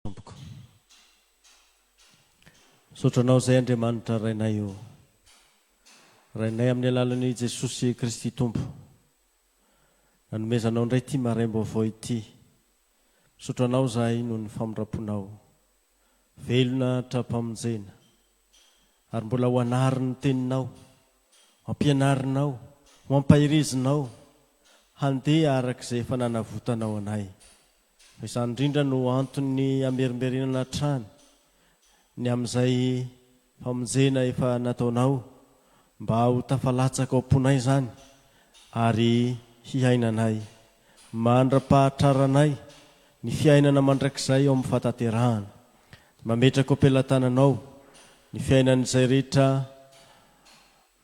Tompoko. Misaotra Anao izay Andriamanitra Rainay o. Rainay amin'ny alalan'i Jesosy Kristy Tompo. Nanomezanao indray ity maraim-baovao ity. Misaotra Anao izahay noho ny famindram-ponao. Velona hatram-pamonjena. Ary mbola ho anariny ny teninao. Ho ampianarinao, ho ampahirizinao handeha araka izay efa nanavotanao anay. Izany indrindra no anton'ny hamerimberenana hatrany ny amin'izay famonjena efa nataonao mba ho tafalatsaka ao am-ponay izany ary hiainanay mandra-pahatraranay ny fiainana mandrakizay ao amin'ny fahatanterahana. Mametraka ao am-pelatananao ny fiainan'izay rehetra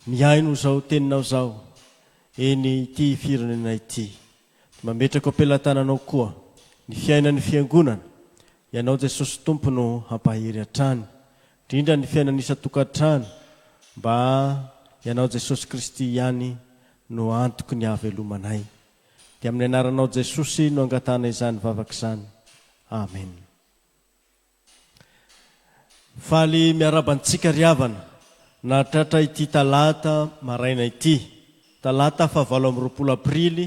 Mihaino izao teninao izao, eny ity firenena ity. Dia mametraka eo am-pelatananao koa ny fiainan'ny Fiangonana. Ianao Jesosy Tompo no hampahery hatrany. Indrindra ny fiainan'ny isan-tokantrano, mba Ianao Jesosy Kristy ihany no antoky ny hahavelomanay. Dia amin'ny Anaranao Jesosy no angatahana izany vavaka izany. Amen. Faly miaraba antsika ry havana nahatratra ity talata maraina ity, talata fahavalo amby roapolo aprily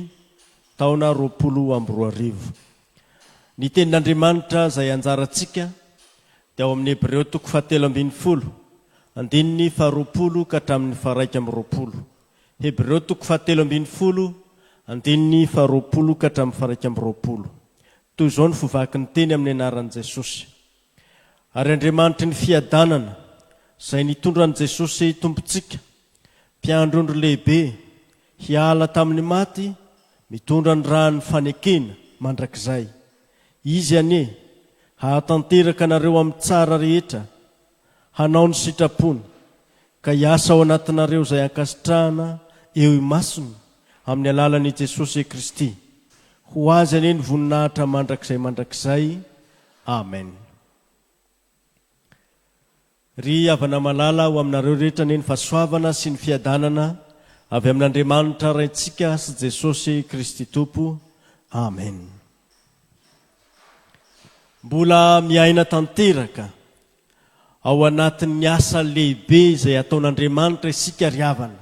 taona roapolo amby roa arivo. Ny tenin'Andriamanitra izay anjarantsika dia ao amin'ny Hebreo toko fahatelo ambin'ny folo, andininy faharoapolo ka hatramin'ny faharaika amby roapolo. Hebreo toko fahatelo ambin'ny folo, andininy faharoapolo ka hatramin'ny faharaika amby roapolo. Toy izao no fo vaky ny teny amin'ny anaran'i Jesosy, Ary Andriamanitry ny fiadanana, izay nitondra an'i Jesosy Tompontsika, Mpiandry ondry lehibe, hiala tamin'ny maty, mitondra ny ràn'ny fanekena mandrakizay. Izy anie hahatanteraka anareo amin'ny tsara rehetra hanao ny sitrapony, ka hiasa ao anatinareo izay ankasitrahana eo imasony amin'ny alalan'i Jesosy Kristy. Ho Azy anie ny voninahitra mandrakizay mandrakizay. Amen. Ry havana malala, ho aminareo rehetra anie ny fahasoavana sy ny fiadanana avy amin'Andriamanitra Raintsika sy Jesosy Kristy Tompo. Amen. Mbola miaina tanteraka ao anatin'ny asa lehibe izay ataon'Andriamanitra isika ry havana,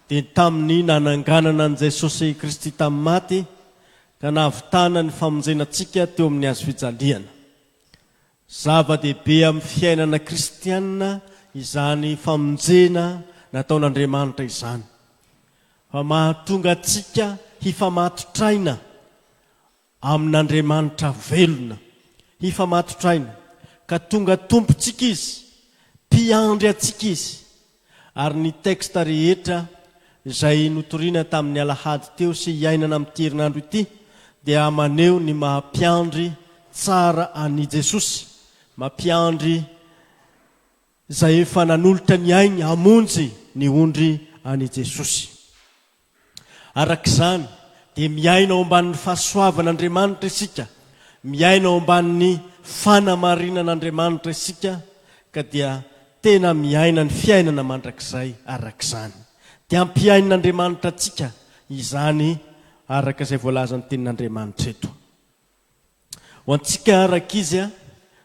dia tamin'ny nananganana an'i Jesosy Kristy tamin'ny maty ka nahavitana ny famonjena antsika teo amin'ny hazofijaliana. Zava-dehibe amin'ny fiainana kristianina izany famonjena nataon'Andriamanitra izany, fa mahatonga antsika hifamatotraina amin'Andriamanitra velona, hifamatotraina ka tonga Tompontsika Izy, Mpiandry antsika Izy, Ary ny texte rehetra izay notorina tamin'ny alahady teo sy iainana amin'ity herinandro ity dia maneho ny maha mpiandry tsara an'i Jesosy, maha mpiandry izay efa nanolotra ny ainy hamonjy ny ondry an'i Jesosy. Araka izany, dia miaina ao ambanin'ny fahasoavan'Andriamanitra isika, miaina ao ambanin'ny fanamarinan'Andriamanitra isika, ka dia tena miaina ny fiainana mandrakizay araka izany. Dia ampihain'Andriamanitra antsika izany araka izay voalazan'ny Tenin'Andriamanitra eto. Ho antsika rankizy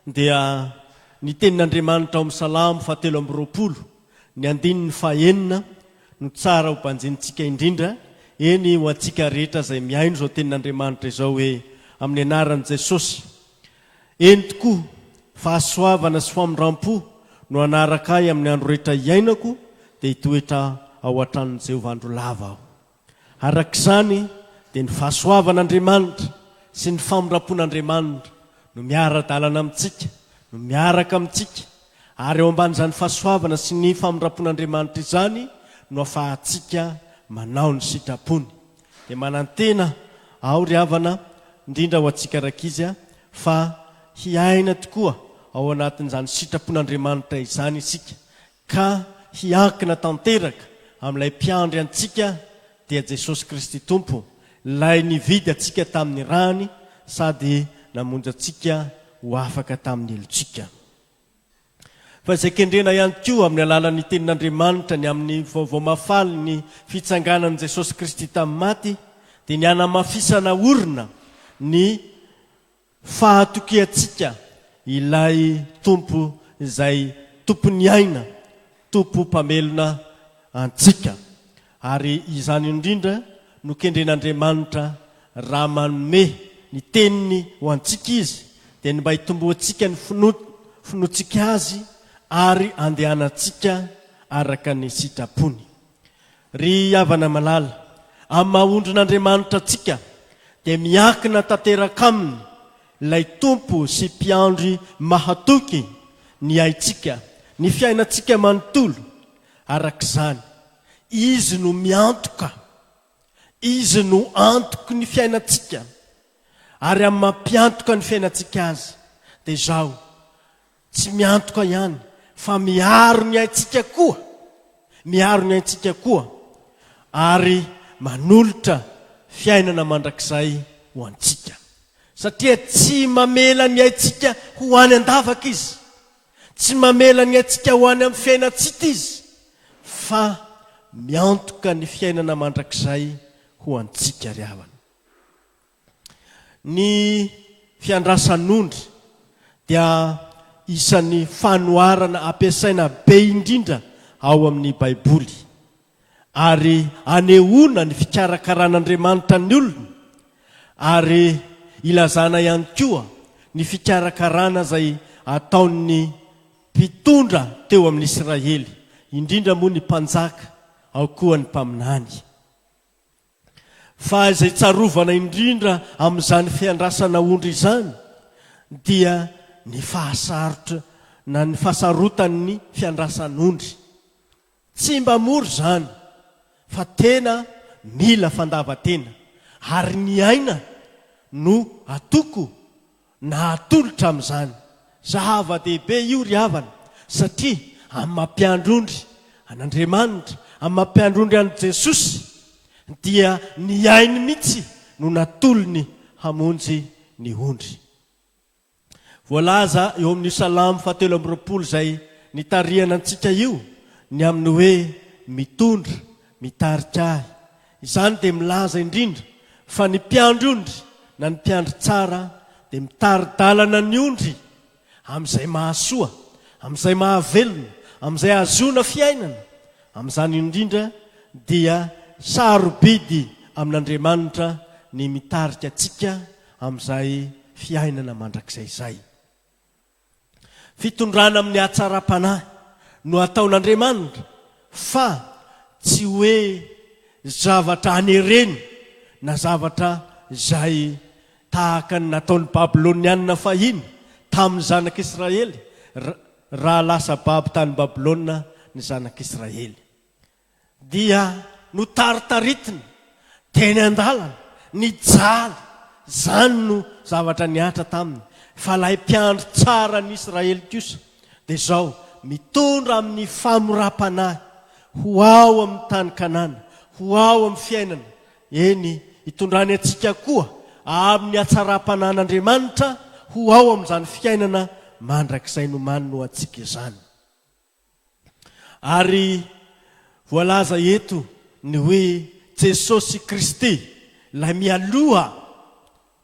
dia ny tenin'Andriamanitra ao amin'ny Salamo faha telo amby roapolo ny andininy faha enina no tsara ho banjinintsika indrindra, eny ho antsika rehetra izay mihaino izao tenin'Andriamanitra izao hoe, Amin'ny anaran'i Jesosy. Eny tokoa, fahasoavana sy famindram-po no hanaraka ahy amin'ny andro rehetra hiainako dia hitoetra ao an-tranon'i Jehovah andro lava aho. Araka izany, dia ny fahasoavan'Andriamanitra sy ny famindram-pon'Andriamanitra no miara-dalana amintsika, no miaraka amintsika, ary ao ambanin'izany fahasoavana sy ny famindram-pon'Andriamanitra izany no afahantsika manao ny sitrapony. Dia manantena aho, ry havana, indrindra ho antsika rankizy, fa hiaina tokoa ao anatin'izany sitrapon'Andriamanitra izany isika, ka hiankina tanteraka amin'ilay Mpiandry antsika, dia Jesosy Kristy Tompo, Ilay nividy antsika tamin'ny rany sady namonjy antsika ho afaka tamin'ny helotsika. Fa izay kendrena ihany koa amin'ny alalan'ny Tenin'Andriamanitra ny amin'ny Vaovao Mahafalin'ny fitsanganan'i Jesosy Kristy tamin'ny maty, dia ny hanamafisana orina ny Fa atokiantsika Ilay Tompo izay Tompon'ny aina, Tompo Mpamelona antsika. Ary izany indrindra no kendren'Andriamanitra raha manome ny Teniny ho antsika Izy, dia ny mba hitomboantsika ny finoantsika Azy ary andehanantsika araka ny sitrapony. Ry havana malala, amin'ny maha ondrin'Andriamanitra antsika dia miankina tanteraka aminy ilay Tompo sy Mpiandry mahatoky ny aintsika, ny fiainantsika manontolo, arak'izany, Izy no miantoka, Izy no antoky ny fiainantsika, ary amin'ny mampiantoka ny fiainantsika Azy dia izao, Tsy miantoka ihany fa miaro ny aintsika koa, miaro ny aintsika koa ary manolotra fiainana mandrakizay ho antsika. Satria tsy mamela ny aintsika ho any an-davaka Izy, tsy mamela ny aintsika ho any amin'ny fiainan-tsita Izy, fa miantoka ny fiainana mandrakizay ho antsika ry havana. Ny fiandrasan'ondry dia isan'ny fanoharana ampiasaina be indrindra ao amin'ny Baiboly, ary anehoana ny fikarakaran'Andriamanitra ny olony, ary ilazana ihany koa ny fikarakarana izay ataon'ny mpitondra teo amin'ny Isiraely, indrindra moa ny mpanjaka, ao koa ny mpaminany. Fa izay tsarovana indrindra amin'izany fiandrasana ondry izany dia ny fahasarotra na ny fahasarotan'ny fiandrasan'ondry. Tsy mba mora izany fa tena mila fandavan-tena ary ny aina no atoko Nahatolotra amin'izany. Zava-dehibe io ry havana, satria amin'ny maha mpiandry ondry an'Andriamanitra, amin'ny maha mpiandry ondry an'i Jesosy, dia ny ainy mihitsy no natolony hamonjy ny ondry. Voalaza eo amin'io Salamo fahatelo amby roapolo izay nitarihana antsika io ny amin'ny hoe mitondra, mitarika ahy, Izany dia milaza indrindra fa ny mpiandry ondry na ny mpiandry tsara dia mitari-dalana ny ondry amin'izay mahasoa, amin'izay mahavelona, amin'izay ahazoana fiainana. Amin'izany indrindra dia sarobidy amin'Andriamanitra ny mitarika antsika amin'izay fiainana mandrakizay izay. Fitondrana amin'ny hatsaram-panahy no ataon'Andriamanitra fa tsy hoe zavatra anerena na zavatra izay tahaka ny nataon'ny Babylonianina fahiny tamin'ny zanak'Israely raha lasa babo tany Babylona ny zanak'Israely. dia notaritaritina teny an-dalana, nijaly, izany no zavatra nihatra taminy, fa ilay mpiandry tsara an'i Israely kosa dia izao mitondra amin'ny famoram-panahy ho ao amin'ny tany Kanana, ho ao amin'ny fiainana, eny, itondrany antsika koa amin'ny hatsaram-panahin'Andriamanitra ho ao amin'izany fiainana mandrakizay nomaniny ho antsika izany. Ary voalaza eto ny hoe Jesosy Kristy, ilay mialoha.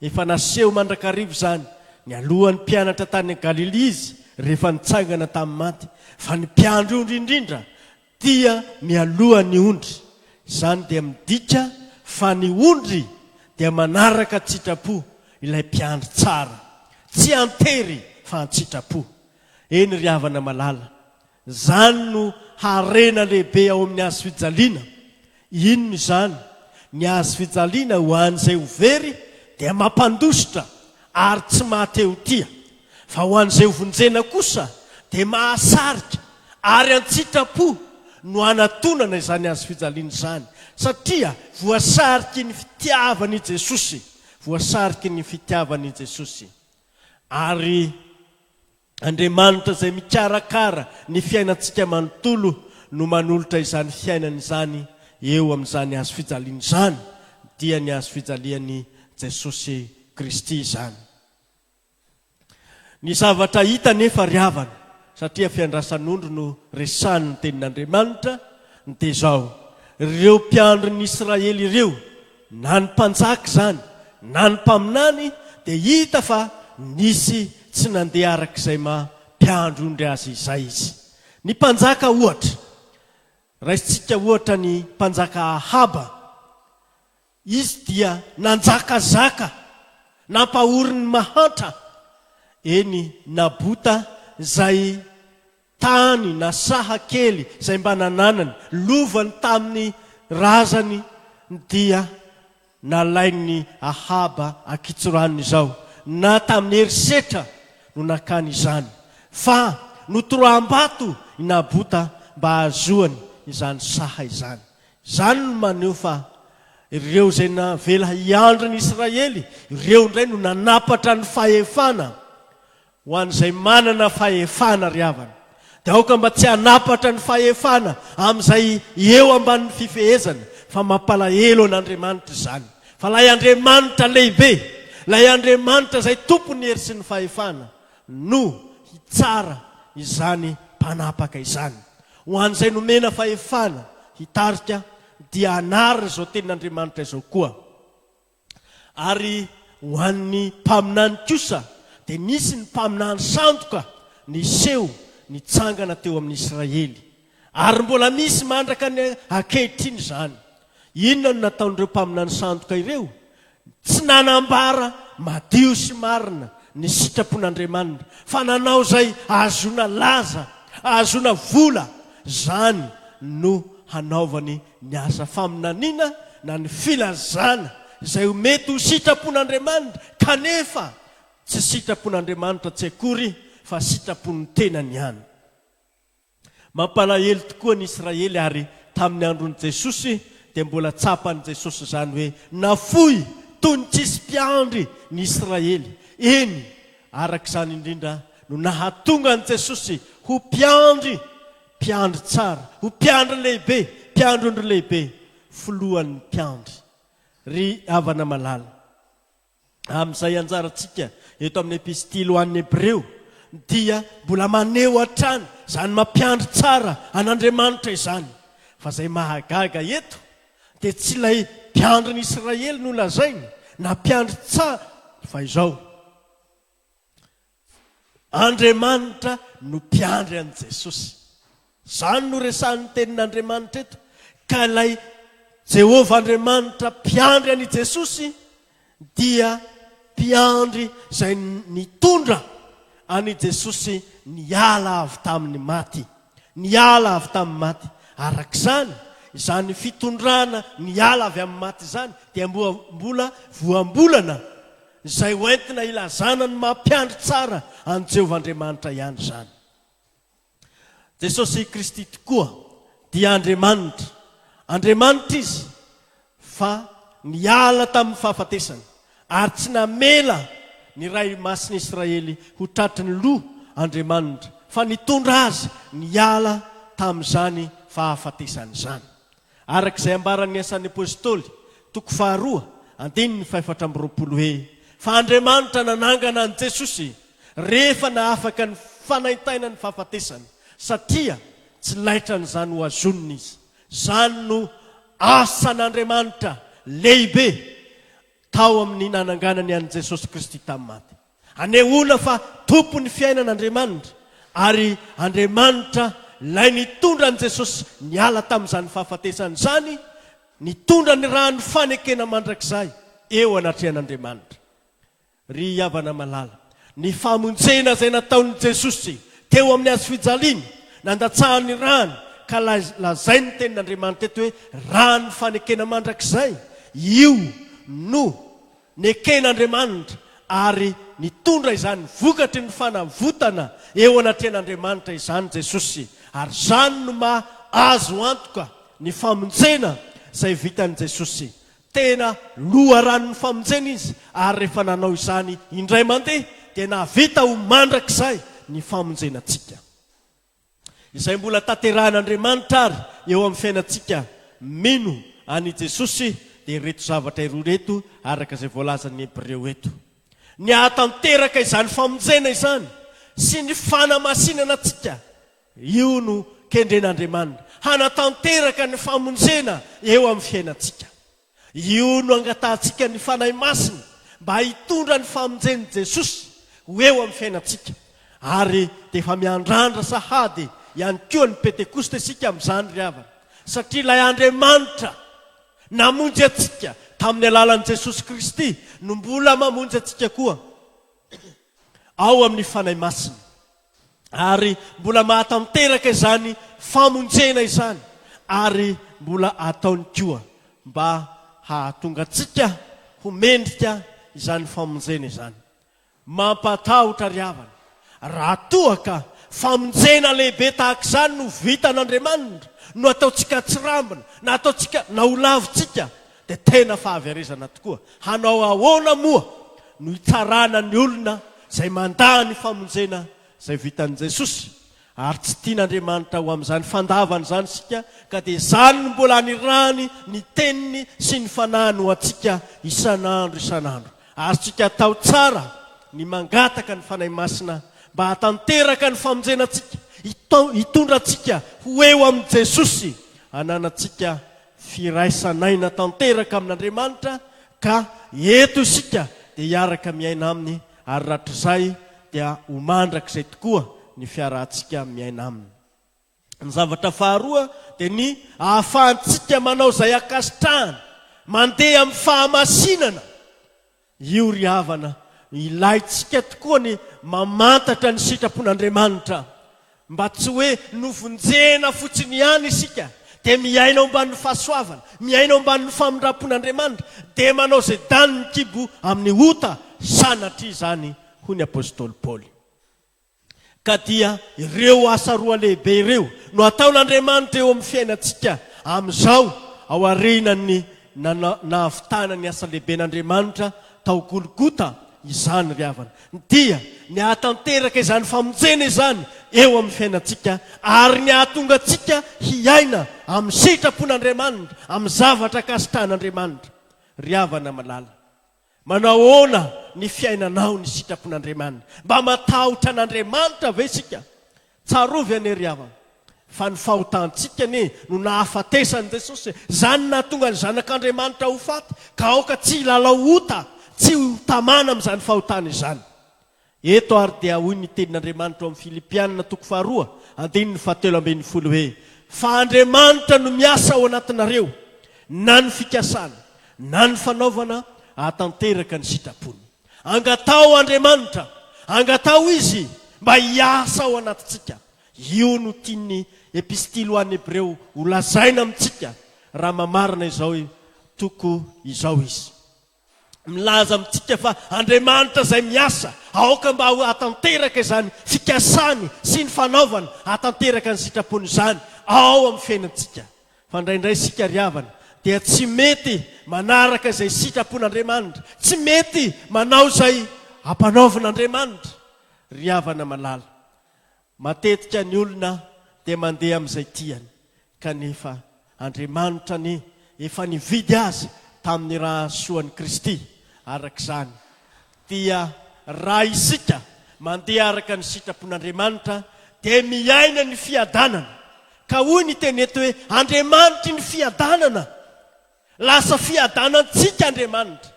Efa naseho mandrakariva izany, nialoha ny mpianatra tany Galilia Izy rehefa nitsangana tamin'ny maty, fa ny mpiandry ondry indrindra dia mialoha ny ondry. Izany dia midika fa ny ondry dia manaraka an-tsitrapo ilay mpiandry tsara. Tsy an-tery fa an-tsitrapo. Eny ry havana malala, zany no harena lehibe ao amin'ny hazo fijaliana. Inona izany? Ny hazo fijaliana ho an'izay ho very dia mampandositra ary tsy mahatehotia, fa ho an'izay ho vonjena kosa dia mahasarika ary an-tsitrapo no hanatonana izany hazo fijaliana izany, satria voasariky ny fitiavan'i Jesosy, voasariky ny fitiavan'i Jesosy. Ary Andriamanitra izay mikarakara ny fiainantsika manontolo no manolotra izany fiainany izany eo amin'izany hazo fijaliana izany, dia ny hazo fijalian'i Jesosy Kristy izany. Ny zavatra hita anefa ry havana, satria fiandrasan'ondry no resahin'ny Tenin'Andriamanitra, dia izao, ireo mpiandrin'Israely ireo, Na ny mpanjaka izany na ny mpaminany dia hita fa nisy tsy nandeha araka izay maha mpiandrondry azy izay izy. Ny mpanjaka ohatra, raisintsika ohatra ny mpanjaka Ahaba, izy dia nanjakazaka, nampahory ny mahantra, eny Nabota izay Tany na saha kely izay mba nananany, lovany tamin'ny razany dia nalain'i Ahaba an-kitsoranony izao, na tamin'ny herisetra no nakany izany, fa notoraham-bato i Nabota mba hahazoany izany saha izany. Izany no maneho fa ireo izay navela hiandry ny Israely, ireo indray no nanapatra ny fahefana Ho an'izay manana fahefana, ry havana, dia aoka mba tsy hanampatra ny fahefana amin'izay eo ambanin'ny fifehezana, fa mampalahelo an'Andriamanitra izany. Fa ilay Andriamanitra lehibe, ilay Andriamanitra izay tompon'ny hery sy ny fahefana, no hitsara izany mpanapaka izany. Ho an'izay nomena fahefana hitarika, dia hanary izao tenin'Andriamanitra izao koa. Ary ho an'ny mpaminany kosa, dia nisy ny mpaminany sandoka niseho nitsangana teo amin'ny Israely. Ary mbola misy mandraka ny ankehitriny izany. Inona no nataon'ireo mpaminany sandoka ireo? Tsy nanambara madio sy marina ny sitrapon'Andriamanina, fa nanao izay ahazoana laza, ahazoana vola, izany no hanaovany ny asa faminaniana na ny filazana izay ho mety ho sitrapon'Andriamanitra kanefa tsy sitrapon'Andriamanitra tsy akory fa sitrapon'ny tenany ihany. Mampalahelo tokoa ny Israely ary tamin'ny andron'i Jesosy dia mbola tsapan'i Jesosy izany hoe nafoy toy ny tsisy mpiandry ny Israely. Eny, araka izany indrindra no nahatonga an'i Jesosy ho mpiandry Mpiandry tsara, ho mpiandry lehibe, mpiandrondry lehibe, filohan'ny mpiandry. Ry havana malala, amin'izay anjarantsika eto amin'ny Epistily ho an'ny Hebreo dia mbola maneho hatrany izany maha mpiandry tsara an'Andriamanitra izany. Fa izay mahagaga eto dia tsy ilay mpiandrin'i Israely no lazainy na mpiandry tsara fa izao, Andriamanitra no mpiandry an'i Jesosy. Izany no resahin'ny Tenin'Andriamanitra eto. Ka ilay Jehovah Andriamanitra mpiandry an'i Jesosy dia mpiandry izay nitondra an'i Jesosy niala avy tamin'ny maty. Niala avy tamin'ny maty. Araka izany, izany fitondrana niala avy amin'ny maty izany dia mbola voambolana, izay hoentina hilazana ny maha-mpiandry tsara an'i Jehovah Andriamanitra ihany izany. Jesosy Kristy tokoa dia Andriamanitra. Andriamanitra izy. fa niala tamin'ny fahafatesany ary tsy namela ny Ray Masin'i Israely ho tratry ny loha Andriamanitra, fa nitondra azy niala tamin'izany fahafatesany izany. Araka izay ambaran'ny Asan'ny Apostoly, toko faharoa, andininy fahefatra amby roapolo hoe, Fa Andriamanitra nanangana an'i Jesosy rehefa nahafaka ny fanaintainan'ny fahafatesana, satria tsy laitran'izany ho azonina izy, Izany no asan'Andriamanitra lehibe tao amin'ny nananganany an'i Jesosy Kristy tamin'ny maty. Anehoana fa Tompon'ny fiainana Andriamanitra, ary Andriamanitra Ilay nitondra an'i Jesosy niala tamin'izany fahafatesana izany, nitondra ny ràn'ny fanekena mandrakizay eo anatrehan'Andriamanitra. Ry havana malala, ny famonjena izay nataon'i Jesosy teo amin'ny hazo fijaliana, nandatsahany ny rany, ka lazainy ny tenin'Andriamanitra eto hoe rany fanekena mandrakizay, io no neken'Andriamanitra ary nitondra izany vokatry ny fanavotana eo anatrehan'Andriamanitra izany Jesosy, ary izany no maha azo antoka ny famonjena izay vitan'i Jesosy Tena loharanon'ny famonjena izy, ary rehefa nanao izany indray mandeha, dia nahavita ho mandrakizay ny famonjena antsika. Izay mbola tanterahin'Andriamanitra àry eo amin'ny fiainantsika mino an'i Jesosy, dia ireto zavatra iroa ireto, araka izay voalazan'ny Hebreo eto. Ny hahatanteraka izany famonjena izany sy ny fanamasinana antsika. Io no kendren'Andriamanina hanatanteraka ny famonjena eo amin'ny fiainantsika. Io no angatahantsika ny Fanahy Masina mba hitondra ny famonjen'i Jesosy ho eo amin'ny fiainantsika. Ary dia efa miandrandra sahady ihany koa ny Pentekosta isika amin'izany ry havana, satria ilay Andriamanitra namonjy antsika tamin'ny alalan'i Jesosy Kristy no mbola mamonjy antsika koa ao amin'ny Fanahy Masina. ary mbola mahatanteraka izany famonjena izany ary mbola ataony koa mba hahatonga antsika ho mendrika izany famonjena izany. Mampatahotra ry havana raha toa ka famonjena lehibe tahaka izany no vitan'Andriamanitra no ataontsika atsirambina na ataontsika na ho lavintsika Dia tena fahaverezana tokoa. Hanao ahoana moa no hitsarana ny olona izay mandà ny famonjena izay vitan'i Jesosy? Ary tsy tian'Andriamanitra ho amin'izany fandavany izany isika, ka dia izany no mbola anirahany ny Teniny sy ny Fanahiny ho antsika isan'andro isan'andro. Azontsika atao tsara ny mangataka ny Fanahy Masina mba hahatanteraka ny famonjena antsika, hitondra antsika ho eo amin'i Jesosy, hananantsika Firaisan'aina tanteraka amin'Andriamanitra ka eto isika dia hiaraka miaina Aminy ary ratr'izay dia ho mandrakizay tokoa ny fiarahantsika miaina Aminy. Ny zavatra faharoa dia ny ahafahantsika manao izay ankasitrahany, mandeha amin'ny fahamasinana Io ry havana, ilaintsika tokoa ny mamantatra ny sitrapon'Andriamanitra, mba tsy hoe novonjena fotsiny ihany isika, dia miaina ao ambanin'ny fahasoavana, miaina ao ambanin'ny famindram-pon'Andriamanitra, dia manao izay danin'ny kibo amin'ny ota, sanatria izany, hoy ny apostoly Paoly. Ka dia ireo asa roa lehibe ireo no ataon'Andriamanitra eo amin'ny fiainantsika amin'izao, aorianan'ny nahavitana ny asa lehiben'Andriamanitra tao Golgota izany ry havana, dia ny hahatanteraka izany famonjena izany eo amin'ny fiainantsika ary ny hahatonga antsika hiaina amin'ny sitrapon'Andriamanitra, amin'ny zavatra akasitrahan'Andriamanitra. Ry havana malala. Manahoana ny fiainanao ny sitrapon'Andriamanina? Mba matahotra an'Andriamanitra ve isika? Tsarovy anie ry havana fa ny fahotantsika anie no nahafatesan'i Jesosy e! Izany nahatonga ny zanak'Andriamanitra ho faty ka aoka tsy hilalao ota, tsy ho tamana amin'izany fahotana izany. Eto ary dia hoy ny tenin'Andriamanitra ao amin'ny Filipiana toko faharoa andininy fahatelo ambin'ny folo hoe, Fa Andriamanitra no miasa ao anatinareo, na ny fikasana, na ny fanaovana, hahatanteraka ny sitrapony. Angataho Andriamanitra, angataho Izy mba hiasa ao anatintsika. Io no tian'ny Epistily ho an'ny Hebreo holazaina amintsika, raha mamarana izao toko izao izy. milaza amintsika fa Andriamanitra izay miasa, aoka mba ho hahatanteraka izany fikasany sy ny fanaovany hahatanteraka ny sitrapony izany ao amin'ny fiainantsika. Fa indraindray isika ry havana dia tsy mety manaraka izay sitrapon'Andriamanitra, tsy mety manao izay ampanaovin'Andriamanitra ry havana malala. Matetika ny olona dia mandeha amin'izay tiany, kanefa Andriamanitra anie efa nividy azy tamin'ny ra soan'i Kristy, araka izany dia raha isika mandeha araka ny sitrapon'Andriamanitra dia miaina ny fiadanana, ka hoy ny teny eto hoe Andriamanitry ny fiadanana Lasa fiadanantsika Andriamanitra.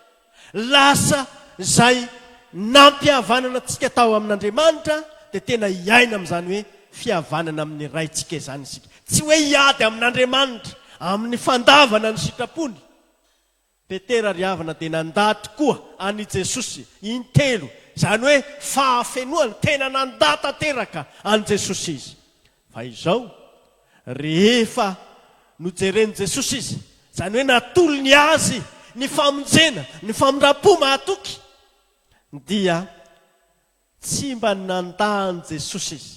Lasa izay nampihavanana antsika tao amin'Andriamanitra dia tena hiaina amin'izany hoe fihavanana amin'ny Raintsika izany isika. Tsy hoe hiady amin'Andriamanitra amin'ny fandavana ny sitrapony. Petera ry havana dia nandà tokoa an'i Jesosy intelo, izany hoe fahafenoany, tena nandà tanteraka an'i Jesosy izy. Fa izao, rehefa nojeren'i Jesosy izy, izany hoe natolony azy ny famonjena, ny famindram-po mahatoky, dia tsy mba nandà an'i Jesosy izy.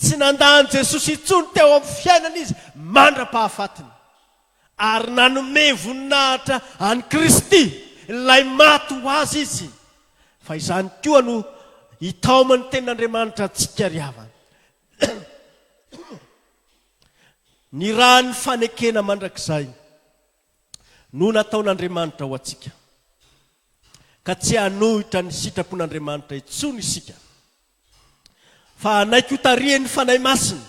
Tsy nandà an'i Jesosy intsony teo amin'ny fiainany izy mandra-pahafatiny, ary nanome voninahitra an'i Kristy, ilay maty ho azy, izy. Fa izany koa no hitaoman'ny Tenin'Andriamanitra antsika ry havana. Ny ran'ny fanekena mandrakizay no nataon'Andriamanitra ho antsika, ka tsy hanohitra ny sitrapon'Andriamanitra intsony isika, fa hanaiky hotarihin'ny Fanahy Masina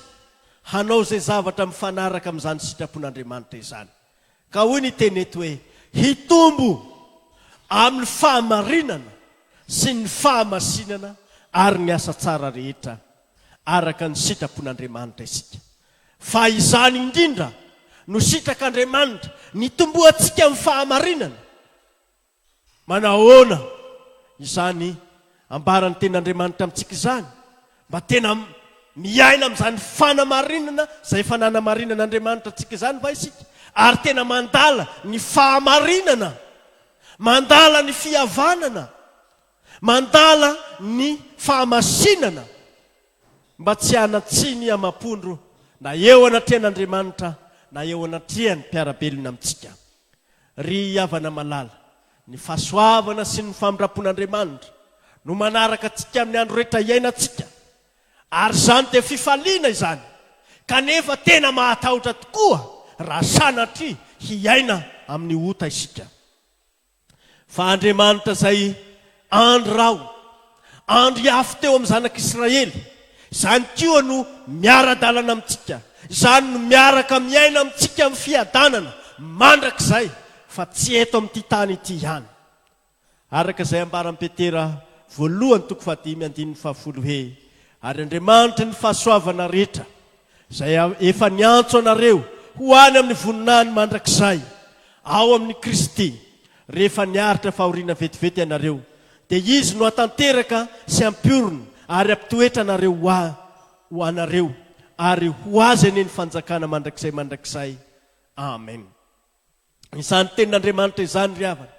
hanao izay zavatra mifanaraka amin'izany sitrapon'Andriamanitra izany. Ka hoy ny teny eto hoe hitombo amin'ny fahamarinana sy ny fahamasinana ary ny asa tsara rehetra araka ny sitrapon'Andriamanitra isika. Fa izany indrindra no sitrak'Andriamanitra, ny hitomboantsika amin'ny fahamarinana. Manahoana izany ambaran'ny Tenin'Andriamanitra amintsika izany mba tena miaina amin'izany fanamarinana izay efa nanamarinan'Andriamanitra antsika izany va isika ary tena mandala ny fahamarinana, mandala ny fihavanana, mandala ny fahamasinana mba tsy hanan-tsiny amam-po ndro na eo anatrehan'Andriamanitra na eo anatrehan'ny mpiara-belona amintsika. Ry havana malala, ny fahasoavana sy ny famindram-pon'Andriamanitra no manaraka antsika amin'ny andro rehetra iainantsika, ary izany dia fifaliana izany, kanefa tena mahatahotra tokoa raha sanatria hiaina amin'ny ota isika. Fa Andriamanitra izay Andry Raho, Andry Afo teo amin'ny zanak'Israely, izany koa no miara-dalana amintsika, izany no miaraka miaina amintsika amin'ny fiadanana mandrakizay fa tsy eto amin'ity tany ity ihany. Araka izay ambaran'i Petera voalohany toko fahadimy andininy fahafolo hoe, Ary Andriamanitry ny fahasoavana rehetra, izay efa niantso anareo ho any amin'ny voninahiny mandrakizay ao amin'i Kristy, Rehefa niaritra fahoriana vetivety ianareo, dia Izy no hatanteraka sy hampiorina ary hampitoetra anareo ho a, ho anareo, ary ho Azy anie ny fanjakana mandrakizay mandrakizay. Amen. Izany Tenin'Andriamanitra izany, ry havana,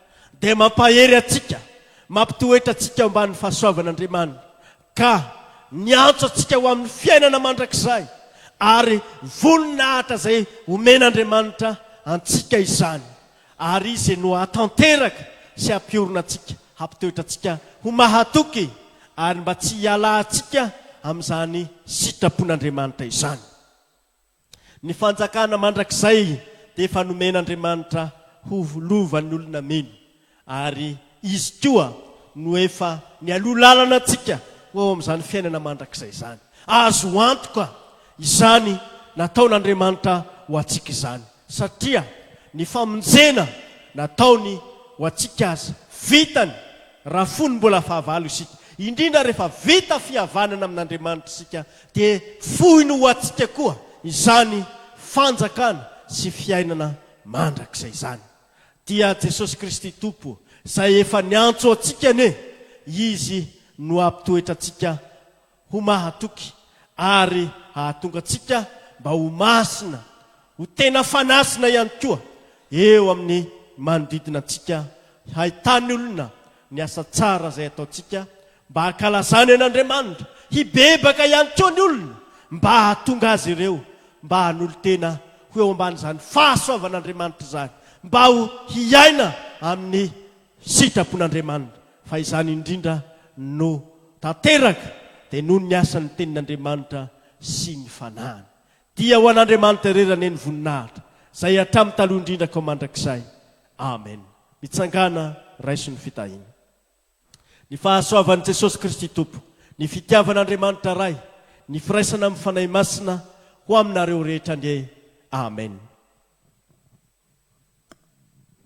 dia mampahery antsika, mampitoetra antsika ao ambanin'ny fahasoavan'Andriamanitra, ka miantso antsika ho amin'ny fiainana mandrakizay, ary voninahitra izay omen'Andriamanitra antsika izany. Ary Izy no hahatanteraka sy hampiorina antsika, hampitoetra antsika ho mahatoky ary mba tsy hialantsika amin'izany sitrapon'Andriamanitra izany. Ny fanjakana mandrakizay dia efa nomen'Andriamanitra ho lovan'ny olona mino, ary Izy koa no efa nialoha lalana antsika ho ao amin'izany fiainana mandrakizay izany. Azo antoka izany nataon'Andriamanitra ho antsika izany. Satria ny famonjena nataony ho antsika aza, vitany raha fony mbola fahavalo isika. Indrindra rehefa vita fihavanana amin'Andriamanitra isika, dia foiny ho antsika koa izany fanjakana sy fiainana mandrakizay izany. Dia Jesosy Kristy Tompo izay efa niantso antsika anie, Izy no hampitoetra antsika ho mahatoky ary hahatonga antsika mba ho masina, ho tena fanasina ihany koa eo amin'ny manodidina antsika, hahitan'ny olona ny asa tsara izay ataontsika mba hankalazany an'Andriamanitra, hibebaka ihany koa ny olona mba hahatonga azy ireo mba hanolo-tena ho eo ambanin'izany fahasoavan'Andriamanitra izany, mba ho hiaina amin'ny. Sitrapon'Andriamanitra, fa izany indrindra no tanteraka dia noho ny asan'ny Tenin'Andriamanitra sy ny Fanahiny. Dia ho an'Andriamanitra irery anie ny voninahitra, izay hatramin'ny taloha indrindra k'ho mandrakizay. Amen. Mitsangàna, raiso ny fitahiana. Ny fahasoavan'i Jesosy Kristy Tompo, ny fitiavan'Andriamanitra Ray, ny firaisana amin'ny Fanahy Masina ho aminareo rehetra anie. Amen.